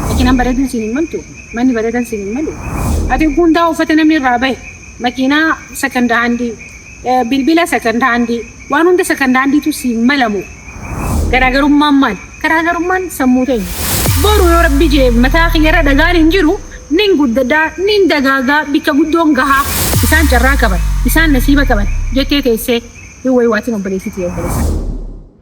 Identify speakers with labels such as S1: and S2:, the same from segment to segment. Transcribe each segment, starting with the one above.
S1: Makiinaan bareeduun siin hin maltu, manni bareedan siin hin malu. Ati hundaa uffata namni irraa bahe, makiinaa sakanda handii, eh, bilbila sakanda handii, waan hunda sakanda handiitu siin malamu. Garaagarummaan maal? Garaagarummaan sammuu teenya. Boru yoo rabbi jee mataa kiyyarra dhagaan hin jiru, nin guddadaa, nin dagaagaa, bikka guddoon gahaa. Isaan carraa qaban, isaan nasiiba qaban jettee teessee hin waywaatin obboleessi tiyya obboleessa.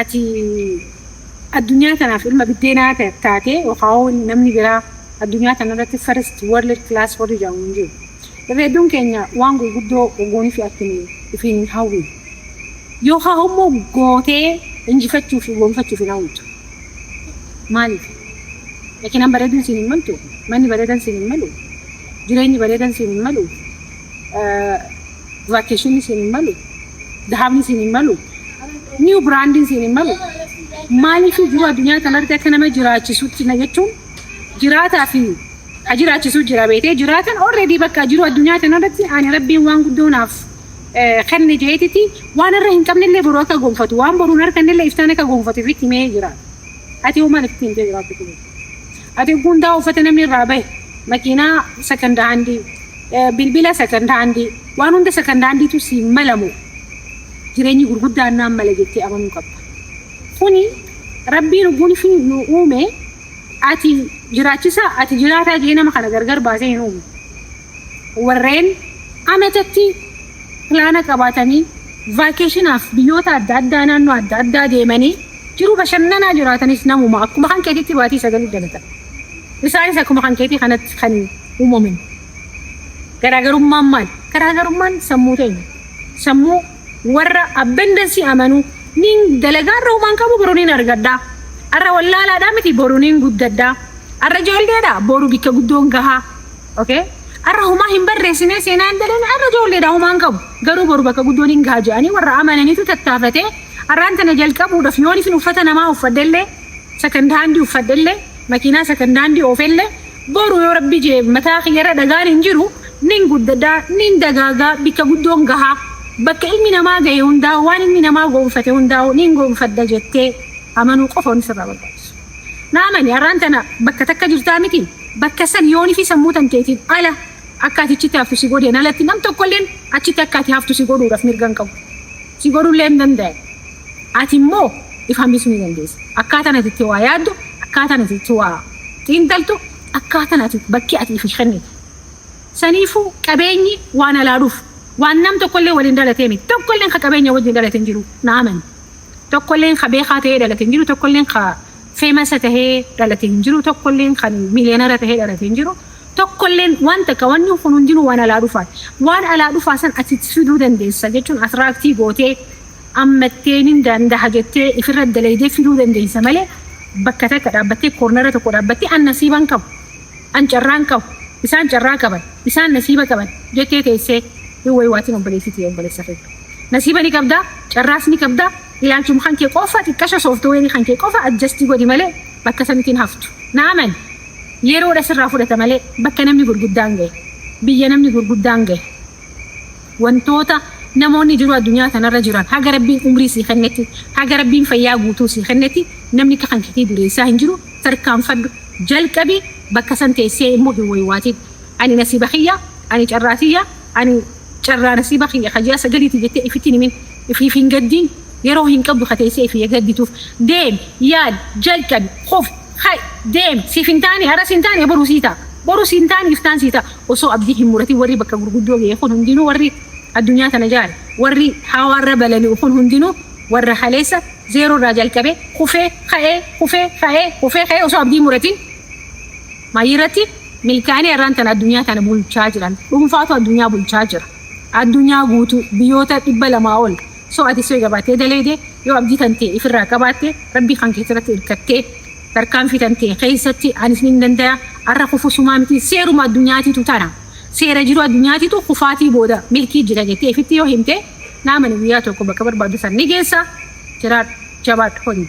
S1: ati addunyaa tanaaf ilma biddeenaa ta- taatee yookaan inni namni biraa addunyaa tanarratti first world class warri jedhamu hin jiru. Irra hedduun keenya waan gurguddoo goonii fi akkini ifiin hin hawwin. Yookaan immoo gootee injifachuu fi goonfachuuf hin hawwitu. Maaliif? Makiinaan bareeduun siin hin maltu, manni bareedan siin hin malu, jireenyi bareedan siin hin malu, eh, vacation isin hin malu dhaabni isin hin malu new brand isin hin malu maaliif jiru addunyaa kanarratti akka nama jiraachisutti na jechuun jiraataa fi ha jiraachisuu jira beetee jiraatan already bakka jiru addunyaa kanarratti ani rabbiin waan guddoo naaf eh, kenne jeetiti waan irra hin qabnellee boruu akka gonfatu waan boruun harkannellee iftaan akka gonfatu ifitti himee jira ati hoo maal ifitti himtee jiraachuu Ati hundaa uffata namni irraa bahe makiinaa sakanda handii eh, bilbila sakanda handii waan hunda sakanda handiitu si malamu jireenyi gurguddaan naan mala jettee amanuu qabda. Kuni rabbiin lubbuun ishii nu uume ati jiraachisa ati jiraataa jee nama kana gargar baasee hin uume. Warreen ametatti pilaana qabaatanii vaakeeshinaaf biyyoota adda addaa naannoo adda addaa deemanii Jiruu bashannanaa jiraatanis namuma akkuma kan keetiitti baatii sagalii dalatan. Isaanis akkuma kan keetii kanatti kan uumaman. Garaagarummaan maali? Garaagarummaan sammuu teenya. Sammuu warra abundance amanuu niin dalagaa irra humaan qabu boru niin argadhaa. Arra wallaalaadhaa miti boru niin guddadhaa. Arra ijoolleedha boru bikka guddoon gahaa. Okay? Arra humaa hin barreessinee seenaa hin dalane arra ijoolleedha humaan qabu. Garuu boru bakka guddoon hin gaha jedhanii warra amananitu tattaafatee Har'aan tana jalqabuudhaaf yoon isin uffata namaa uffadhellee, second hand uffadhellee, makiinaa second hand oofellee, boru yoo Rabbi je'e mataa kiyyarra dhagaan hin jiru, nin guddadha, nin dagaaga, bikka guddoon gaha. Bakka ilmi namaa gahe hundaahuu, waan ilmi namaa gonfate hundaahuu nin gonfadha jettee amanuu qofa wanni sirraa barbaachisu. Na amani, har'aan tana bakka takka jirtaa mitii? Bakka san yoonifii sammuu tanteetiin ala, Akka ati achitti haftu si godheen alatti nam tokkolleen achitti akka ati haftu si godhuudhaaf mirga hin qabu. Si godhullee hin danda'an. Ati immoo if hambisuu ni dandeessa. Akkaataan ati itti waa yaaddu, akkaataan ati itti waa xiinxaltu, akkaataan ati bakki ati ifi kennitu. Saniifuu qabeenyi waan alaa dhufu, waan nam tokkollee waliin dhalatee miti. Tokkolleen ka qabeenya wajjiin dhalate hin jiru. Na amani. Tokkolleen ka beekaa ta'ee dhalate hin jiru, tokkolleen ka famous ta'ee dhalate hin jiru, tokkolleen kan millionaire ta'ee dhalate hin jiru. tokkolleen waan takka wanni kun hundinuu waan alaa dhufaati. Waan alaa dhufaa san ati itti fiduu dandeessa jechuun attract gootee ammattee nin dandaha jettee ifirra dalaydee fiduu dandeessa malee bakka takka dhaabbattee koornara tokko dhaabbattee an nasiiban qabu, an carraan qabu, isaan carraa qaban, isaan nasiiba qaban jettee teessee hin wayuatin obboleettii tiyya obboleessa kiyya. Nasiiba ni qabda, carraas ni qabda, ilaalchuma kan kee qofa xiqqasho software kan kee qofa adjust godhi malee bakka sanitti hin haftu. Na amani! Yeroodha sirraa fudhata malee bakka namni gurguddaan gahe, biyya namni gurguddaan gahe, wantoota namoonni jiru addunyaa tanarra jiran haga Rabbiin umrii sii kennetti, haga Rabbiin fayyaa guutuu sii kennetti namni akka kanketii dureessaa hin jiru tarkaanfadhu jalqabi bakka san teessee immoo hin waywaatin ani nasiiba kiyya, ani carraa tiyya, ani carraa nasiiba kiyya ka ji'a sagaliiti jettee ifitti hin himin, ifiif hin gaddin, yeroo hin qabdu ka teessee ifii gaddituuf deemi, yaadi, jalqabi, kufi. Hay deem siif hin taane aras hin taane boru sii ta'a borus hin taane iftaan sii ta'a osoo abdii hin muratin warri bakka gurguddoo gahe kun hundinuu warri addunyaa tana jaare warri hawaarra balali'u kun hundinuu warra kaleessa zeeroo irraa jalqabee kufee ka'ee kufee ka'ee kufee ka'ee osoo abdii hin muratin maayirratti milkaa'anii har'aan tana addunyaa tana bulchaa jiran dhuunfaatu addunyaa bulchaa jira addunyaa guutuu biyyoota dhibba lamaa ol So atis yoo jabaatee daleeyde, yoo abdii tantee ifirraa qabaatte, Rabbii kan keetirratti irkattee, tarkaanfii tantee keessatti anis nin dandaya, arra kufus humaa miti, seeruma addunyaatitu tana, seera jiruu addunyaatitu kufaatii booda milkii jira jettee ifitti yoo himte, naamani guyyaa tokko bakka barbaaddu san ni geessa, jiraadhu, jabaadhu, hojii.